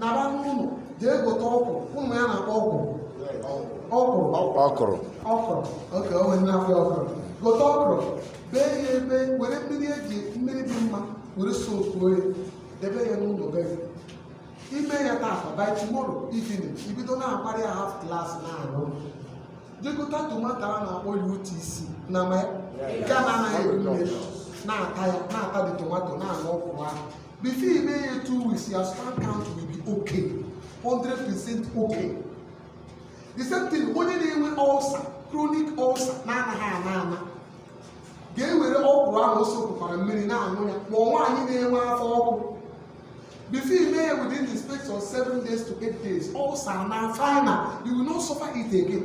nara n'ụlọ jee gote ọkwụrụ ya na-akpọ ọkwụ ọkwụ ọkwụrụ ọkwụrụ okay o nwere na-akpọ ya ọkwụrụ gote ọkwụrụ bee ya ebe were mmiri e ji mmiri dị mma were sokuo ya debe ya n'ụlọ be gị i mee ya taata by tomorrow evening i bido na-akpara ya half glass na-aṅụ jee gota tomato a na-akpọ ya utc na ma nke a na-anaghị eri mmiri na-ata ya na-ata the tomato na-aṅụ ọkwụrụ ahụ Before i mee ya two weeks, your sperm count will be okay. 100% okay. The same thing, onye na-enwe ulcer, chronic ulcer na-anaghị ana ana ga-ewere ọkwụrụ ahụ o sokukwara mmiri na-aṅụ ya ma ọ nwaanyị na-enwe afọ ọkụ before i mee ya within the space of seven days to eight days ulcer anaa final you will not suffer it again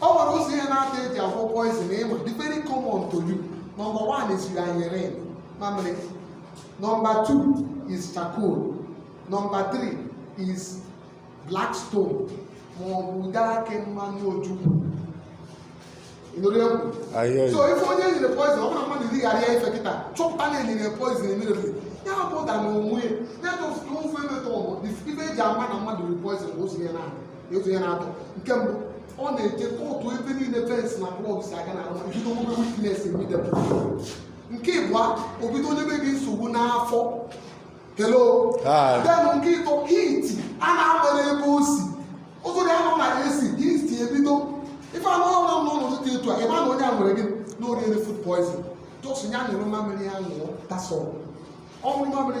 o nwere ụzọ ihe naatọ e ji agwọ poison ị ma dị very common to you number one is urine mamịrị number two is charcoal number three is black stone ma ọ bụ ude akị mmanụ ojukwu ị nụrụ egwu ahịa so if onye e nyere poison ọ bụrụ na mmadụ erigharịa ife kịta chọpụta na e nyere poison immediately ya bụ ụda na onwe ya ya bụ ofe emetọ ọgbọ ife e ji ama na mmadụ riri poison bụ ụzọ ya na-adị otu ihe naatọ nke mbụ ọ na-eje kootu ebe niile fensị na klọb si aga na arụma bido nwebe weakness immediately nke ịbụa o bido nyebe gị nsogbu n'afọ hello then nke ịtọ heat ana-agba n'ebe o si ụzọ dị anọ na AC heat ebido ife anụ ọrụ nọ n'ụzọ dị etu a ị ma na onye a nwere ike na o riere food poison just ya nyụọrọ mamịrị ya ṅụọ that's all ọ ṅụọ mamịrị